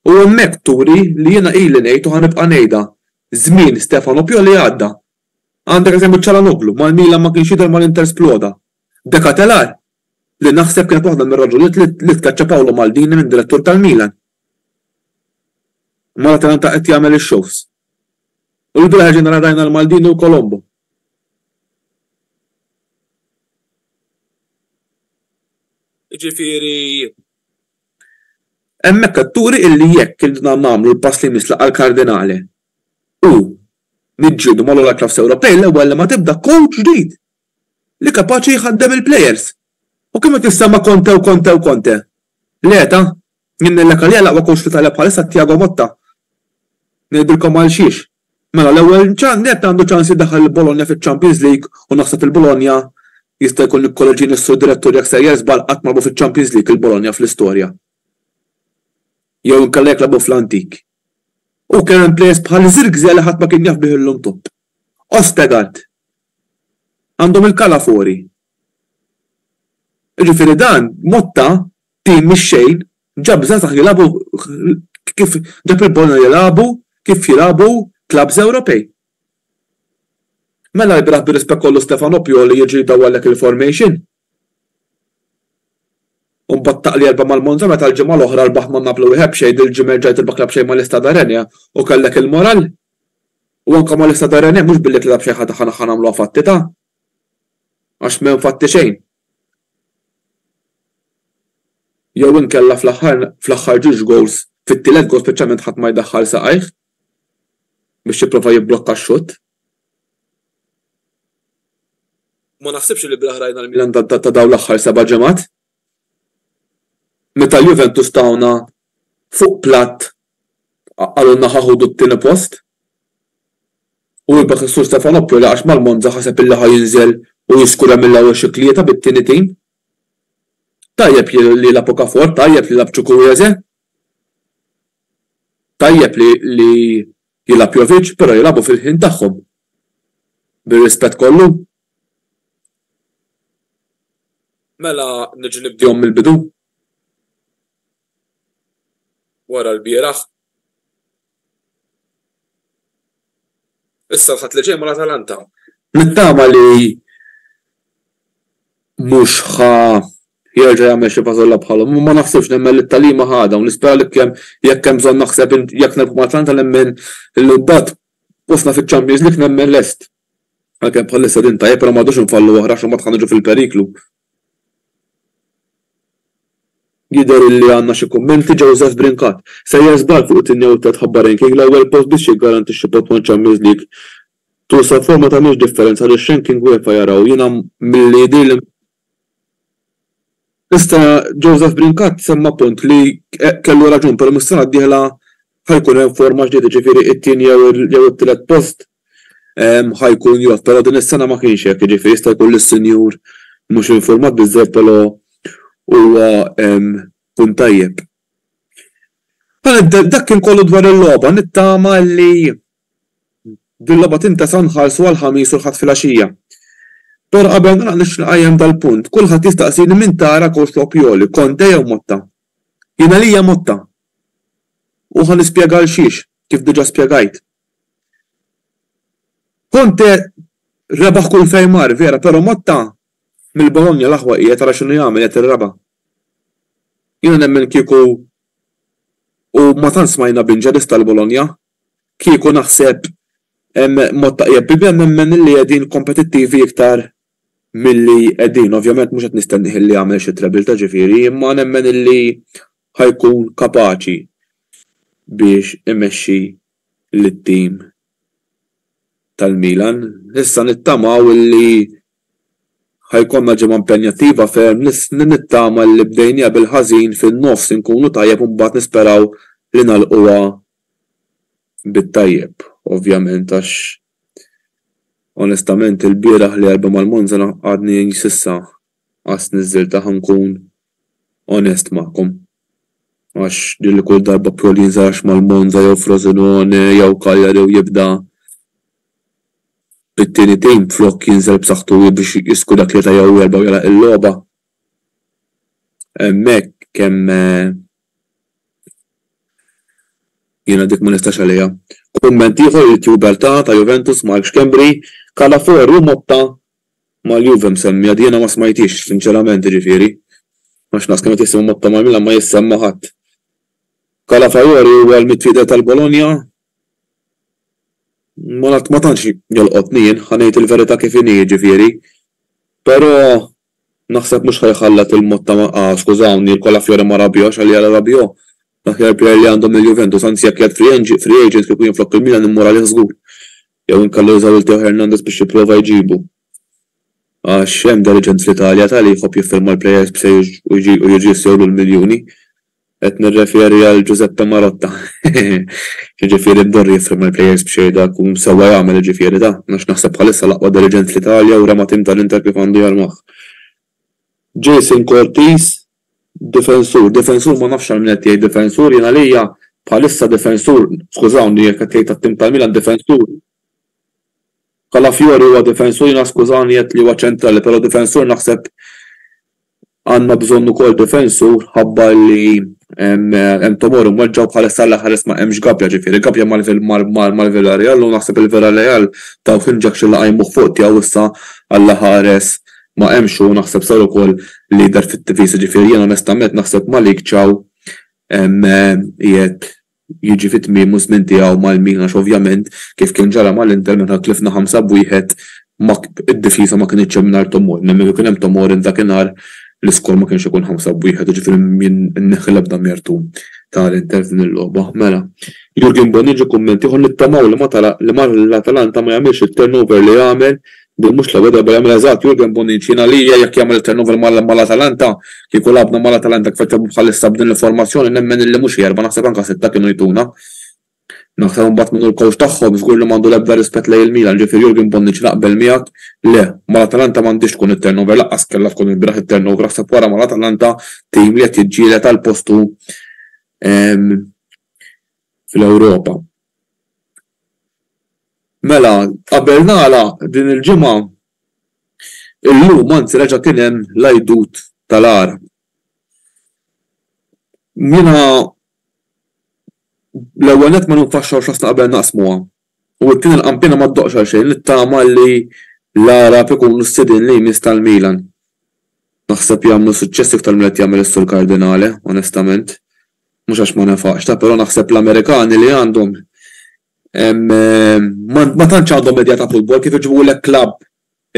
U hemmhekk turi li jiena ili ngħid u ħa nibqa' ngħidha, żmien Stefano Pioli għadda. Għandek eżempju Calhanoglu, mal-Milan ma kienx jidher mal-Inter sploda. De Ketelar, li naħseb kienet waħda mir-raġunijiet li tkeċċa Paolo Maldini minn direttur tal-Milan. Imma l-Atalanta qed jagħmel ix-shows. U l-bieraħ erġajna nara rajna lil Maldini u Colombo. Jiġifieri Hemmhekk qed turi illi jekk iridna nagħmlu l-pass li jmiss laqgħa l-Kardinali u niġġieldu mal-ogħla clubs Ewropej l-ewwel li ma tibda coach ġdid li kapaċi jħaddem il-players. U kemm qed jissema Conte u Conte u Conte. Le ta. Jien nellek għalija l-aqwa coach fl-Italja bħalissa Tiago Motta. Ngħidilkom għalxiex. Mela l-ewwel nett għandu ċans li jdaħħal lil Bologna fiċ-Champions League u naħseb il Bologna jista' jkun ikkoreġini s-Sur Direttur jekk sejjer żball qatt ma lagħbu fiċ-Champions League il Bologna fl-istorja. Jew inkella jekk lagħbu fl-antik. U kien hemm plejers bħal Zirkzee li ħadd ma kien jaf bih illum top. Ostegaard. Għandhom il-Calafori. Jiġifieri dan Motta Tim mix-xejn ġab żgħażagħ jilagħbu kif ġab il-Bologna jilagħbu kif jilagħbu clubs Ewropej. Mela lbieraħ bir-rispett kollu Stefano Pioli jiġi jdawwarlek il-formation? U mbagħad taqli erba' mal-Monza meta l-ġimgħa l-oħra rbaħt ma' Napoli wieħed b'xejn dil-ġimgħa rġajt tirbaħ club xejn mal-Istad Arenia u kellek il-moral? U anke mal-Istad Arenia mhux billi tlilha b'xejn ħa nagħmluha fatti ta? Għax m'hemm fatti xejn. jew inkella fl-aħħar ġiex gowls fit-tielet gowl speċjalment ħadd ma jdaħħal saqajh biex jipprova jibblokka x-xutt u ma naħsibx li bih rajna l-Milan ta' dawn l-aħħar seba' ġimgħat meta l-Juventus tawna fuq platt qalulna ħa ħudu t-tieni post u rebbaħ is-Sur Stefano Prela għax mal-Monza ħaseb illi ħa jinżel u jiskura mill-ewwel xi tlieta bit-tieni tim. Tajjeb li li jilgħab Okafor, tajjeb li jilgħab Chukwueze, tajjeb li li jilgħab Jovic, però jilagħbu fil-ħin tagħhom. Bir-rispett kollu. Mela niġu nibdihom mill-bidu? wara lbieraħ. Issa l-Ħadd li ġej mal-Atalanta. Nittama li mhux ħa jerġa' jagħmel xi fażolla bħalhom, imma ma naħsibx nemmen li t-tagħlima ħa dawn. Nispera li kemm jekk hemm bżonn naħseb jekk nilħqu mal-Atalanta nemmen li mbagħad postna fiċ-Champions League nemmen lest. Għalkemm bħalissa din tajjeb però ma rridux infallu oħra għax imbagħad ħa niġu fil-periklu. Jidher illi għandna xi kummenti. Joseph Brincat, Sejjer żball fuq it-tieni jew it-tliet ħabba ranking, l-ewwel post biex jiggarantixxi post ma' Champions League tul safar ma tagħmilx differenza għaliex ranking UEFA jaraw, jiena milli jidhirli. Issa Joseph Brincat semma punt li kellu raġun però mis-sena d-dieħla ħa jkun hemm forma ġdida, ġifieri it-tieni jew it-tielet post ħa jkun jgħodd, però din is-sena ma kienx hekk, jiġifieri jista' jkun li s-Sinjur mhux infurmat biżżejjed però huwa punt tajjeb. Mela dak kien kollu dwar il-logħba, nittama li din logħba tintesa' nħarsu għall-Ħamis u l-Ħadd filgħaxija. Però qabel nagħlaq nixtieq inqajjem dal-punt, kulħadd jistaqsini min tara Coach Lopjoli, Conte jew Motta? Jien għalija mutta. U ħa nispjega għalxiex, kif diġà spjegajt. Conte rebaħ kull fejn mar, vera, però Motta mill-Bologna l-aħwa qiegħed ara x'inhu jagħmel qiegħed irraba'. Jiena nemmen kieku u ma tant smajna b'inġerist tal-Bologna, kieku naħseb Motta qiegħed bi Bem nemmen li qegħdin kompetittivi iktar milli qegħdin, ovvjament mhux qed nistennih illi jagħmel xi trebilta ġifieri, imma nemmen illi ħa jkun kapaċi biex imexxi lit-tim tal-Milan. Issa nittamaw illi ħa jkollna ġimgħa impenjattiva ferm, nittama illi bdejnieha bil-ħażin fin-nofs inkunu tajjeb u mbagħad nisperaw li nagħlquha bit-tajjeb, ovvjament għax Onestament ilbieraħ li għalba mal-Monza għadni s'issa qas niżżiltah inkun onest magħkom għax din li kull darba Pioli jinsarax mal-Monza jew Frosinone jew Cagliari u jibda bit-tieni tim flok jinżel b'saħħtu biex jisku dak tlieta jew erba' u jagħlaq il-logħba hemmhekk kemm Jiena dik ma nistax għaliha. Kumment ieħor Youtuber ta' ta' Juventus Mark Schembri, Calafiori u Motta mal-Juve msemmija jiena ma smajthiex sinċerament jiġifieri għax naqs kemm qed jisimgħu Motta mal-Milan ma jissemma ħadd. Calafiori huwa l-midfielder tal-Bologna? Ma tantx jolqotni jien, ħa ngħid il-verità kif inhi jiġifieri, però Naħseb mhux ħa jħallat lil Motta ma ah skużawni il Colafiori ma rabjox għalija la rabjò l-aħjar plejer li għandhom lil Juventus anzi jekk jgħadd free free agent kieku jien flok il Milan immur għalih żgur jew inkella jużaw lil Teo Hernandez biex jipprova jġibu għax hemm dal-aġent fl-Italja tali jħobb jiffirma l-plejers b'sejjes u jġi u jiġi jsewlu l-miljuni Qed nirreferi għal Giuseppe Marotta. Jiġifieri Mdorri jiffirma l-plejers b'xejn dak u sewwa jagħmel jiġifieri ta. Għax naħseb bħalissa l-aqwa diriġent fl-Italja u rema tim tal-Inter kif għandu jarmah. Jason Cortis, Difensur, difensur ma nafx għal min qed tgħid difensur, jien għalija bħalissa difensur, skużawni jekk qed tgħid tat-tim tal-Milan difensur, Calafiori huwa difensur jiena skużani għedt li huwa ċentrali però difensur naħseb Għandna bżonn ukoll difensur ħabba li hemm Tomori mweġġa' u bħalissa l-ħares ma hemmx Gabbia, ġifieri Gabbia mal-Villarreal u naħseb il-Villarreal tawh injection li qajmuh fuq tiegħu issa għall-ħares ma hemmx u naħseb sar ukoll leader fit-tifisa, ġifieri jien onestament naħseb Malick Thiaw qiegħed jiġi fi tmiemu ż-żmien tiegħu mal-Milan għax ovvjament kif kien ġara mal-Inter meta tlifna ħamsa b'wieħed ma d-difiża ma kinitx hemm mingħajr Tomori, nemmen kieku kien hemm Tomori f'dakinhar l-iskor ma kienx ikun ħamsa b'wieħed, jiġifieri jien inneħħi l-ebda mertu ta' l-Inter f'din il-logħba. Mela, Jurgen Bonnici kumment ieħor, Nittamaw li ma li l-Atalanta ma jagħmilx it-turnover li għamel Din mhux l-ewwel darba li jagħmilha eżatt Jurgen Bonnici, jien għalija jekk jagħmel it-turnover mal-Atalanta, kieku lagħabna mal-Atalanta kif qed jagħmlu bħalissa b'din il-formazzjoni nemmen illi mhux erba' naħseb anke sitta kienu jtuna. Naħseb imbagħad min hu l-coach tagħhom żgur li m'għandu l-ebda rispett lejn il-Milan, ġifieri Jurgen Bonnici naqbel miegħek, le, mal-Atalanta m'għandhiex tkun it-turnover, lanqas kellha tkun ilbieraħ it-turnover, aħseb wara mal-Atalanta tim li qed jiġġieled għal postu fl-Ewropa. Mela, qabel nagħlaq din il-ġimgħa, illum anzi reġa' kien hemm l-Għidut tal-Għarab. Jiena l-ewwel nett ma ninfaxxawx rasna qabel naqsmuha, u t-tieni l-qanpiena ma ddoqqx għal xejn, nittama li l-Għarab ikunu s-sidien li jmiss tal-Milan. Naħseb jagħmlu suċċess iktar milli qed jagħmel is-Sur Cardinale, onestament. mhux għax ma nefaqx ta' però naħseb l-Amerikani li għandhom ma tantx għandhom idea ta' futbol kif iġibulek klabb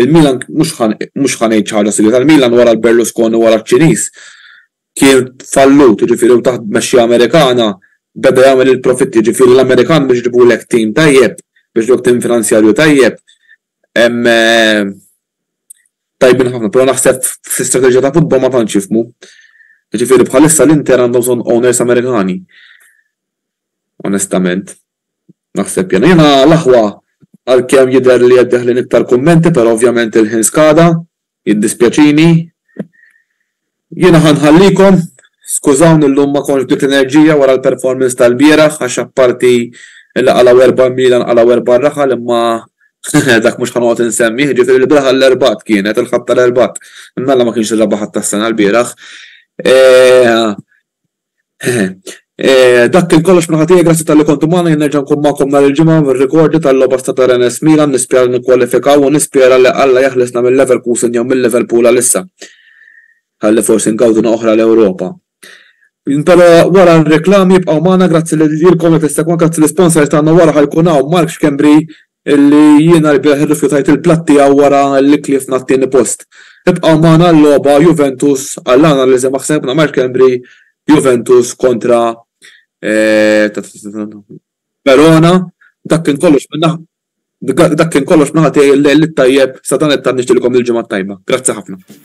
il-Milan mhux ħa mhux ħa ngħid xi ħaġa sigrita l-Milan wara l-Berlusconi wara ċ-Ċiniż kien fallut jiġifieri u taħt tmexxija Amerikana beda jagħmel il-profitti jiġifieri l-Amerikan biex iġibulek tim tajjeb biex iġibulek tim finanzjarju tajjeb tajbin ħafna, però naħseb fl-istrateġija ta' futbol ma tantx jifhmu. Jiġifieri bħalissa l-Inter għandhom bżonn owners Amerikani. Onestament. Naħseb jien. Jiena l-aħwa għalkemm jidher li qed deħlin iktar kummenti, però ovvjament il-ħin skada, jiddispjaċini. Jiena ħa nħallikom, skużawni llum ma kontx b'dik l-enerġija wara l-performance tal-bieraħ għax apparti li qalgħu erba' mila nqalgħu erba' raħal imma hehe dak mhux ħa noqgħod insemmih, ġifieri l-bieraħ l-Erbgħat kienet, il-Ħadd tal-Erbgħat. Imma Alla ma kienx ir-Rebgħa Ħadd tas-sena l-bieraħ. Dak kien kollox minn ħatija, grazzi talli kontu magħna, jien nerġa' nkun magħkom nhar il-Ġimgħa mir-rekordju tal-logħba Stata Rennes Milan, nispera li nikkwalifikaw u nispera li Alla jeħlisna minn Leverkusen jew minn Liverpool għalissa ħalli forsi ngawduna oħra l-Ewropa. Però wara r-reklami bqgħu magħna, grazzi lilkom li tissegwa, grazzi l-isponsors tagħna wara ħajkun hawn Mark Schembri Illi jiena rbieħ irrifjutajt il-platt tiegħu wara li tliefna t-tieni post. Ibqgħu magħna għal-logħba Juventus għall-analiżi ma' ħsebna Mark Embry Juventus kontra Verona Dak kien kollox minn naħa Dak kien kollox minn naħa tiegħi l-lejl it-tajjeb sa dan it-tant nixtieqilkom il-ġimgħa t-tajba. Grazzi ħafna.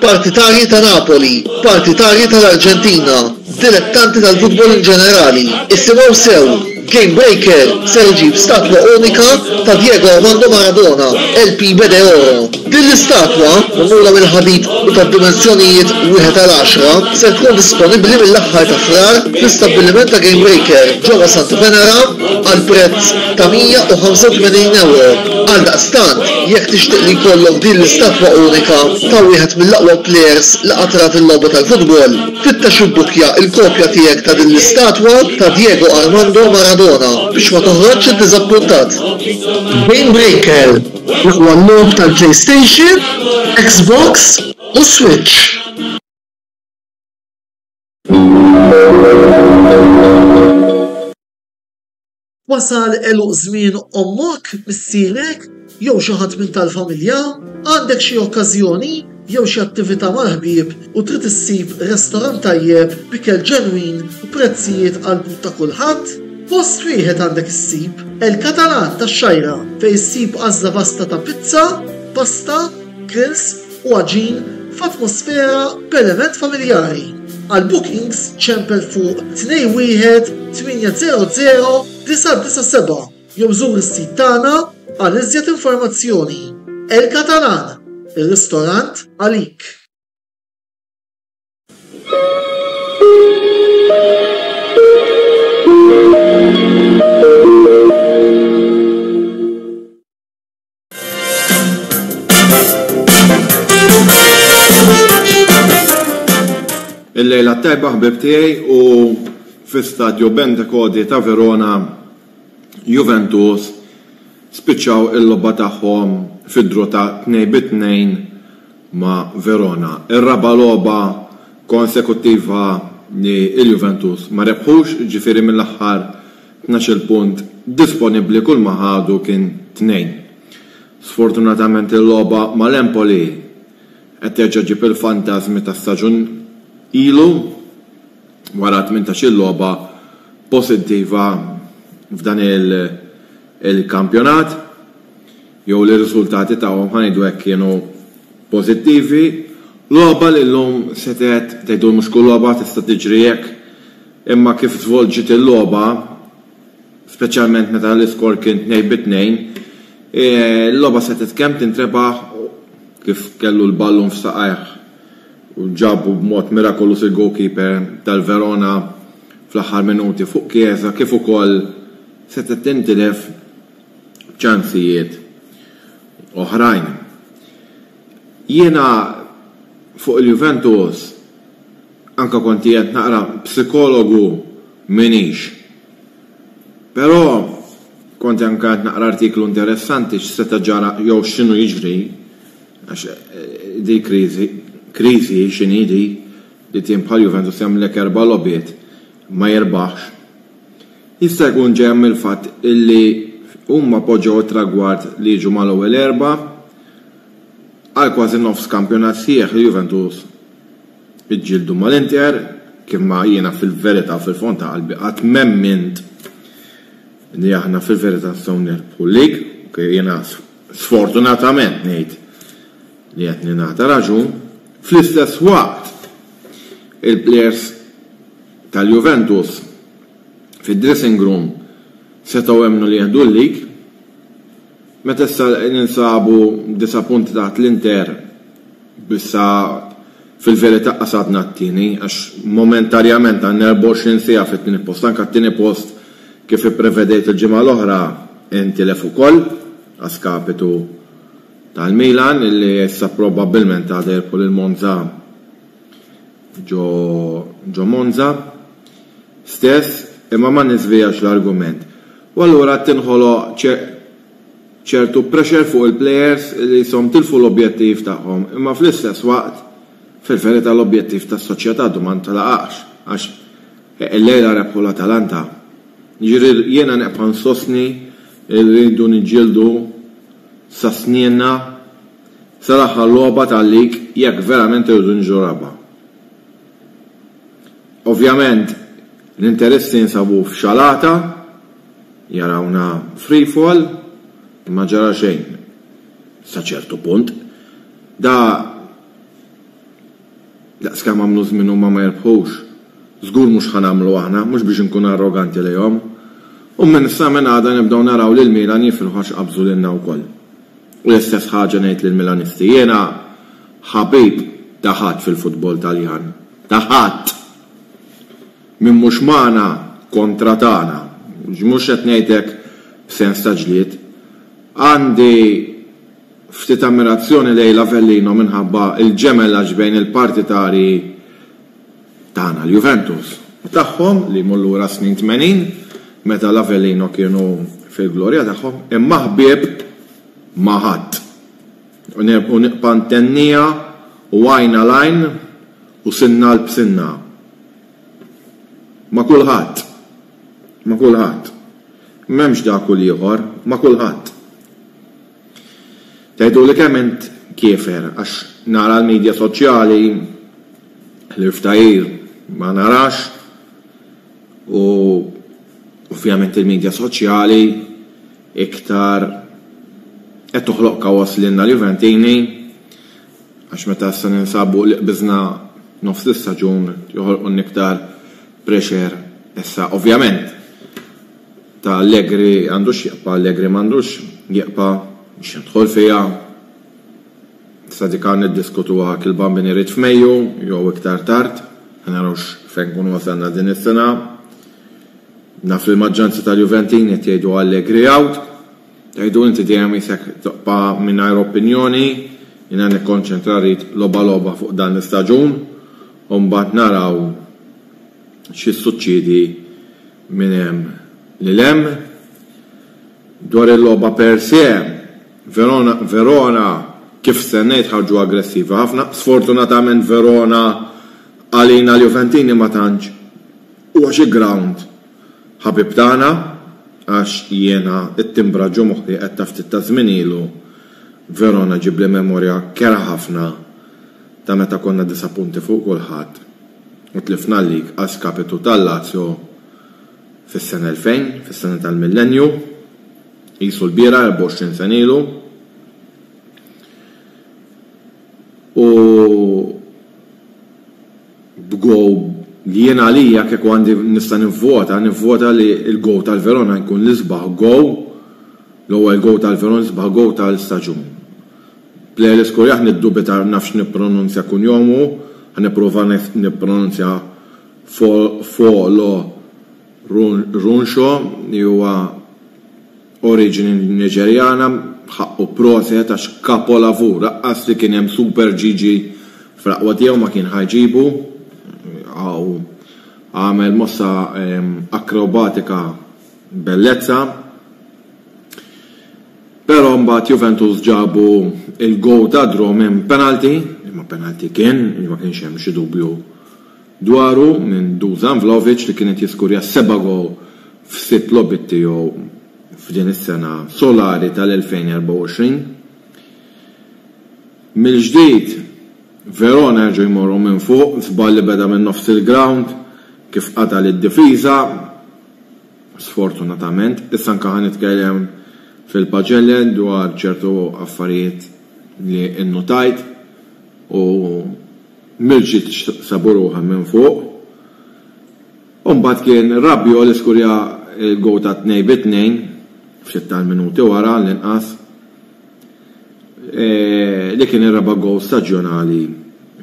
Partitarji ta' Napoli, partitarji tal-Arġentina, dilettanti tal-futbol in ġenerali, issimgħu sew, Game Breaker ser iġib statwa unika ta' Diego Armando Maradona, El Pibe de Oro. Din l-istatwa, magħmula mill-ħadid u tad-dimensjonijiet wieħed għal għaxra, ser tkun disponibbli mill-aħħar ta' Frar fl-istabbiliment ta' Game Breaker ġewwa Santa Venera għal prezz ta' 185 ewro. Għaldaqstant, jekk tixtieq li jkollok din l-istatwa unika ta' wieħed mill-aqwa plejers li qatt rat il-logħba tal-futbol, fittex u bbukja l-kopja tiegħek ta' din l-istatwa ta' Diego Armando Maradona biex ma toħroġx iddiżappuntat. Game Breaker, l-aqwa logħob tal-PlayStation, Xbox u Switch. Wasal għeluq żmien ommok, missierek, jew xi ħadd minn tal-familja? Għandek xi okkażjoni jew xi attività mal-ħbieb u trid issib restorant tajjeb b'ikel ġenwin u prezzijiet għall-but ta' kulħadd? Post wieħed għandek issib, El Catalan tax-Xgħajra, fejn issib għażla vasta ta' pizza, pasta, grills, u għaġin f'atmosfera perement familjari. Għal bookings ċempel fuq 21 800 997 jew żur is-sit tagħna għal iżjed informazzjoni. El Catalan, ir-ristorant għalik. Il-lejla t-tajba ħbib tiegħi u fi stadju Bentekodi ta' Verona Juventus spiċċaw il-logħba tagħhom fi draw ta' tnejn bi tnejn ma' Verona. Ir-raba' logħba konsekuttiva li l-Juventus ma rebħux, jiġifieri mill-aħħar Tnax-il punt disponibbli kull ma ħadu kien tnejn. Sfortunatament il-logħba mal-Empoli qed terġa' ġġib il-fantażmi ta' staġun ilu wara tmintax-il logħba posittiva f'dan il-kampjonat, jew li r-riżultati tagħhom, ħa ngħidu hekk, kienu pożittivi. Logħba li llum setgħet, tgħidu mhux kull logħba tista' tiġri hekk, Imma kif żvolġiet il-logħba, speċjalment meta l-iskor kien tnejn bi tnejn, il-logħba setgħet kemm tintrebaħ u kif kellu l-ballun f'saqajh u ġabu b'mod mirakoluż il-goalkeeper tal-Verona fl-aħħar minuti fuq Chiesa kif ukoll setgħet tintilef b'ċansijiet oħrajn. Jiena fuq il-Juventus, Anke kont qiegħed naqra psikologu m'iniex. Però kont anke qed naqra artiklu interessanti x'seta' ġara jew x'inhu jiġri għax din kriżi, kriżi hi x'inhi di li tim bħal Juventus jagħmlilek erba' logħbiet ma jirbaħx. Jista' jkun ġejja mill-fatt illi huma poġġew it-tragward li jiġu mal-ewwel erba' għal kważi nofs kampjonat sħiħ li Juventus Iġġieldu mal-Inter, kif ma jiena fil-verità u fil-fond ta' qalbi qatt m'emmint li aħna fil-verità nistgħu nirbħu l-lig, ok, jiena sfortunatament ngħid li qed ningħata raġun, fl-istess waqt il-plejers tal-Juventus fid-dressing room setgħu jemmnu li jieħdu l-lig, Meta issa ninsabu disa' punti taħt l-Inter, issa fil-verità qasabna t-tieni għax momentarjament għandna 24 siegħa fit-tieni post, anke t-tieni post kif ipprevedejt il-ġimgħa l-oħra intilef ukoll a skapitu tal-Milan li issa probabbilment għada jirbħu lil Monza ġo Monza stess, imma ma niżvijax l-argument. u allura tinħoloq ċertu pressure fuq il-plejers li qishom tilfu l-objettiv tagħhom imma fl-istess waqt fil-verità l-objettiv tas-soċjetà għadu ma ntlaqax għax illejla rebħu l-Atalanta. Jiġifieri jiena nibqa' nsostni li rridu niġġieldu sa snienna sal-aħħar logħba tal-lig jekk verament irridu niġu raba'. Ovvjament, L-interessi jinsabu f'xalata, jarawna free fall, imma ġara xejn sa ċertu punt. Da daqs kemm għamlu żmien huma ma jirbħux, żgur mhux ħa nagħmlu aħna, mhux biex inkun arroganti lejhom. U minn sa minn għada nibdew naraw lil Milan jifirħu għax qabżu lilna wkoll. U l-istess ħaġa ngħid lill-Milanisti, jiena ħabib ta' ħadd fil-futbol Taljan, ta' ħadd! Min mhux magħna kontra tagħna. Mhux qed ngħid hekk b'sens ta' ġlied. Għandi ftit ammirazzjoni lejn l-Avellino minħabba l-ġemelaġġ bejn il-partitari tagħna, l-Juventus, u tagħhom li jmur lura s-snin tmenin meta l-Avellino kienu fil-glorja tagħhom, imma ħbieb ma' ħadd. U nibqa' ntenniha u għajn għal għajn. U sinna qalb sinna. Ma' kulħadd. Ma' kulħadd. M'hemmx dak u l-ieħor, ma' kulħadd. Tgħiduli kemm int kiefer għax nara l-midja soċjali, l-irftajir ma narax u ovvjament il-midja soċjali iktar qed toħloq kaos lilna l-Juventini, għax meta issa ninsabu li qbiżna nofs l-istaġun joħolqulna iktar pressure issa ovvjament ta' Allegri għandu x'jibqa' Allegri m'għandux jibqa' mhux nidħol fiha issa dik għad niddiskutuha jekk il-Bambini jrid f'Mejju jew iktar tard ħa naraw x'fejn nkunu wasalna din is-sena naf li l-maġġoranza tal-Juventini qed jgħidu Allegri out. Jgħidu inti dejjem qisek tibqa' mingħajr opinjoni, jiena nikkonċentra rrid logħba logħba fuq dan l-istaġun u mbagħad naraw x'jissuċċiedi minn hemm lil hemm. Dwar il-logħba per se, Verona kif stennejt ħarġu aggressivi ħafna, sfortunatament Verona għalina l-Juventini ma tantx huwa xi ground Ħabib tagħna, għax jiena t-timbra ġo moħħi qed ta' ftit taż-żmien ilu, Verona ġibli memorja kerha ħafna ta' meta konna disa' punti fuq kulħadd u tlifna l-lig a skapitu tal-Lazio fis-sena 2000, fis-sena tal-millennju, qisu l-bieraħ 24 sena ilu. U. b'go jien għalija kieku għandi nista' nivvota nivvota li l-go tal-Verona jkun l-isbaħ go l-ewwel go tal-Verona l-isbaħ go tal-istaġun. Player iskorja ħa niddubita nafx nippronunzja kunjomu ħa nipprova nippronunzja Fo Folo Runxo, li huwa oriġini Niġerjana, b'ħaqqu proset għax kapolavur, aqqas li kien hemm Super Gigi fl-aqwa tiegħu ma kien ħa jġibu, hawn għamel mossa akrobatika b'bellezza. Però mbagħad Juventus ġabu l-goal tad-draw minn penalty, li ma penalty kien, li ma kienx hemm xi dubju. dwaru minn Dusan Vlahovic li kien qed jiskurja s-seba' gowl f'sitt logħbiet tiegħu f'din is-sena solari tal-2024. Mill-ġdid Verona reġgħu jmorru minn fuq, żball li beda minn nofs il-grawnd kif qata' lid-difiża, sfortunatament. Issa anke ħa nitkellem fil-paġelle dwar ċertu affarijiet li nnutajt u, Mirċiċ sabu ruħha minn fuq u mbagħad kien Rabiot li skurja l-gowl tat-tnejn bi tnejn ftit tal-minuti wara għall-inqas, li kien ir-raba' gowl staġjonali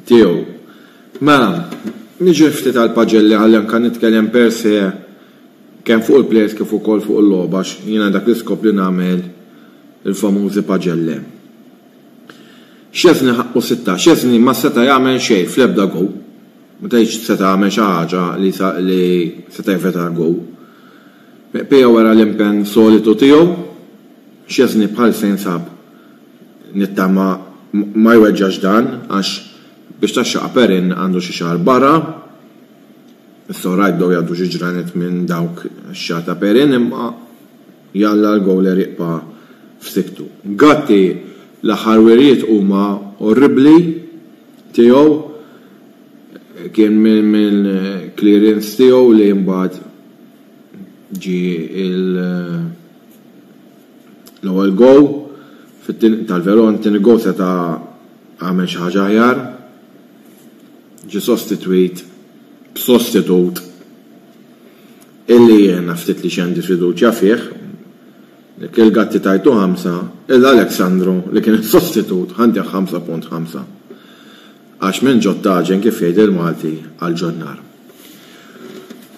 tiegħu. Mela, niġi ftit għal Pagelli ħalli anke nitkellem per se kemm fuq il-plejers kif ukoll fuq il-logħba għax jiena dak li skopt li nagħmel il-famużi pagelle. Szczesny ħaqqu sitta. Szczesny ma seta' jagħmel xejn fl-ebda gowl. Ma tgħidx seta' jagħmel xi ħaġa li seta' jevita gowl. Pea wera l-impenn solitu tiegħu. Szczesny bħal se jinsab nittama ma jweġġax dan għax biex taxxaqqa Perin għandu xi xahar barra. It's alright bdew jgħaddu xi ġranet minn dawk ix-xahar ta' Perin imma. Jalla l-gowler jibqa' f'siktu. Gatti, L-aħħar wirjiet huma orribbli tiegħu. Kien minn clearance tiegħu li mbagħad ġie l-ewwel goal tal-Verona. It-tieni goal seta' għamel xi ħaġa aħjar. Ġie sostitwit b'sostitut. Illi jiena ftit li x'għandi fiduċja fih. Dak il-Gatti tajtu ħamsa, iżda Alex Sandro li kien is-sostitut ħa ntieh ħamsa punt ħamsa. Għax minn ġod tagħġen kif jgħid il-Malti għal ġod nar.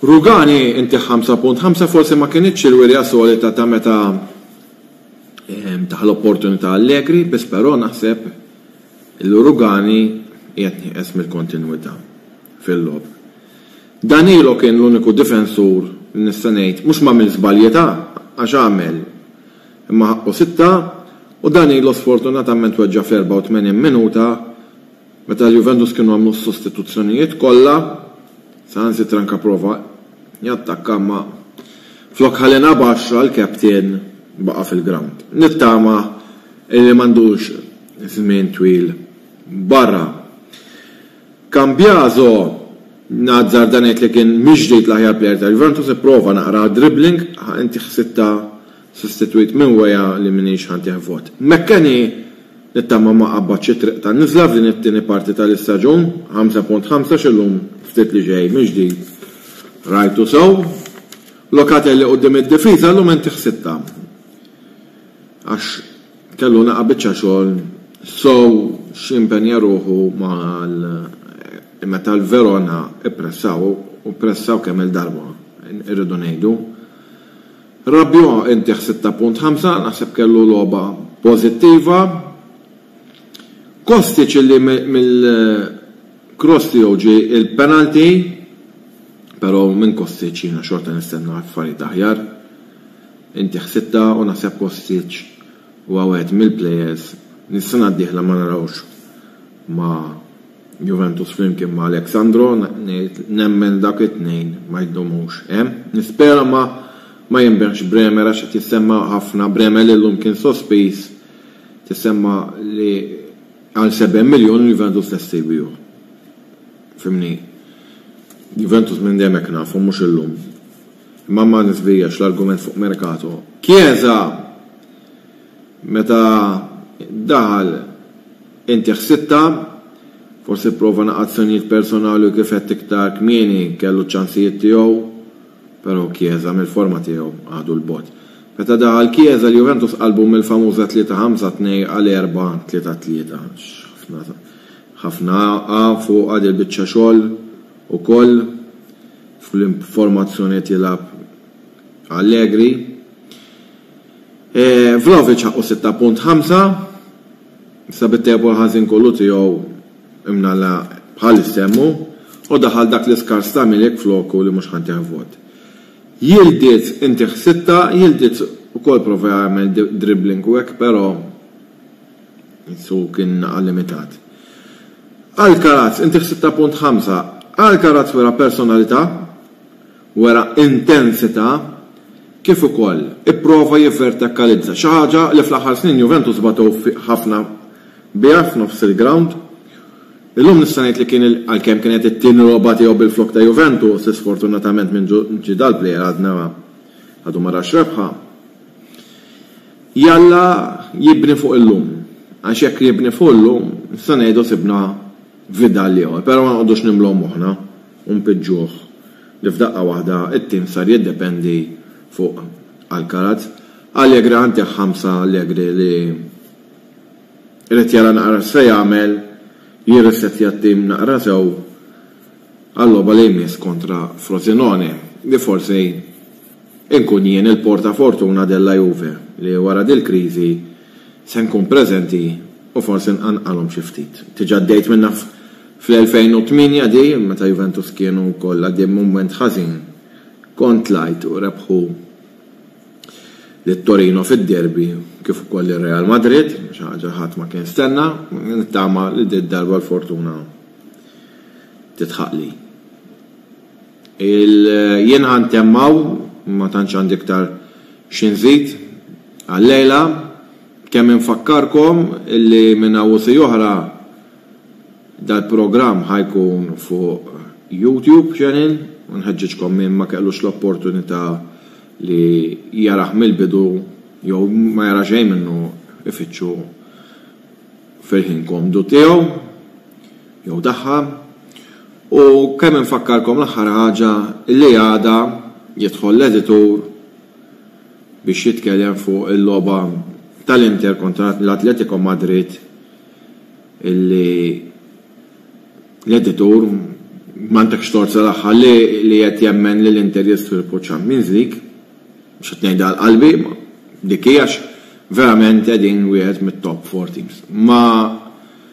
Rugani ntieh ħamsa punt ħamsa forsi ma kinitx il-wirja solita ta' meta tah l-opportunità Allegri biss però naħseb illi Rugani qiegħed nieqes mill-kontinwità fil-logħob. Danilo kien l-uniku difensur li nista' ngħid mhux m'għamilx żbalji ta' għax għamel imma ħaqqu sitta u Danilo sfortunatament weġġa' fl-84 minuta meta l-Juventus kienu għamlu s-sostituzzjonijiet kollha saħansitra anke prova jattakka imma flok ħa lilna b'għaxra l-captain baqa' fil-ground. Nittama illi m'għandux żmien twil barra. Cambiaso, nazzarda ngħid li kien mhix ġdid l-aħjar plejer ta' Juventus, ipprova naqra għad-dribbling, ħa inti ħsittha sostitwit minn Weah li m'iniex ħa ntih vot. McKennie, nittama ma qabbadx it-triq tan-niżla f'din it-tieni parti tal-istaġun, 5.5 x'illum ftit li ġej mill-ġdid rajtu sew. Locatelli quddiem id-difiża llum inti ħsittha għax Kellu naqa' biċċa xogħol sew x'jimpenja ruħu mal meta l-Verona ppressaw u ppressaw kemm-il darba, irridu ngħidu. Rabiot intih 6.5, naħseb kellu logħba pożittiva. Kostic illi mill-cross tiegħu ġie l-penalty, però minn Kostic jiena xorta nistenna affarijiet aħjar. Inti ħsibtha u naħseb Kostic huwa wieħed mill-players li s-sena d-dieħla ma narawhx ma' Juventus flimkien ma' Alex Sandro, ngħid nemmen dawk it-tnejn ma jdumux hemm. Nispera ma jinbigħx Bremer għax qed jissemma ħafna, Bremer li llum kien sospiż tissemma li għal 70 miljun il-Juventus lesti jbiegħu. Fhimni? Juventus minn dejjem hekk nafu mhux illum. Imma ma nifdiljax l-argument fuq Mercato. Chiesa meta daħal inti ħsibtha, forsi pprova naqgħad azzjonijiet personali u kif għedt iktar kmieni kellu ċ-ċansijiet tiegħu, però Chiesa mill-forma tiegħu għadu 'l bogħod. Meta daħal Chiesa l-Juventus qalbu mill-famuża 3 5 2 għal 4 3 3 għax ħafna ħafna qa' fuqha dil-biċċa xogħol Ukoll fl-formazzjoni qed jilgħab Allegri. Vlahovic ħaqqu sitta punt ħamsa, issa bit-table ħażin kollu tiegħu imnalla bħal issemmu u daħal dak l-iskars ta' Milik floku li mhux ħantih vot. Yildiz intih sitta, Yildiz ukoll prova jagħmel dribbling u hekk però Insu kien għal limitat. Alcaraz, inti f'6.5, Alcaraz wera personalità, wera intensità, kif ukoll ipprova jivvertakalizza, xi ħaġa li fl-aħħar snin Juventus bagħtew ħafna biha f'nofs il-grawnd. Illum nista' ngħid li kien, għalkemm kienet it-tieni logħba tiegħu bil-flokk ta' Juventus, isfortunatament minn ġie dal-plejer għadna għadu ma rax rebħa. Jalla jibni fuq illum, għax jekk jibni fuq illum, nistgħu ngħidu sibna Vidal ieħor, però ma noqogħdux nimlgħu moħħna u npiġġuh li f'daqqa waħda t-tim sar jiddependi fuq Alcaraz. Allegra għandek ħamsa Allegri li irid jara naqra x'se jagħmel, jirrissettja t-tim naqra sew għal-logħba li jmiss kontra Frosinone, li forsi Inkun jien il-porta fortuna della Juve li wara dil-kriżi se nkun preżenti u forsi nqanqalhom xi ftit. Diġà għaddejt minnha fl-2008 di meta Juventus kienu wkoll għaddej minn mument ħażin. Kont tlajt u rebħu lil Torino fid-derby kif ukoll lil Real Madrid, xi ħaġa ħadd ma kien stenna, nittama li did-darba l-fortuna tidħaqli. Il jien ħa ntemm hawn, ma tantx għandi iktar xi nżid għal-lejla, kemm infakkarkom li minn hawn u siegħi oħra dal-programm ħa jkun fuq YouTube channel u nħeġġiġkom min ma kellux l-opportunità li jarah mill-bidu jew ma jara xejn minnu ifittxu fil-ħin komdu tiegħu jew tagħha. U kemm infakkarkom l-aħħar ħaġa li għada jidħol l-editur biex jitkellem fuq il-logħba tal-Inter kontra l-Atletico Madrid illi l-editur m'għandekx tort sal-aħħar li qed jemmen li l-Inter jistriepu ċ-Champions League. Mhux qed ngħidha għal qalbi imma dik hi għax verament qegħdin wieħed mit-top four teams. Ma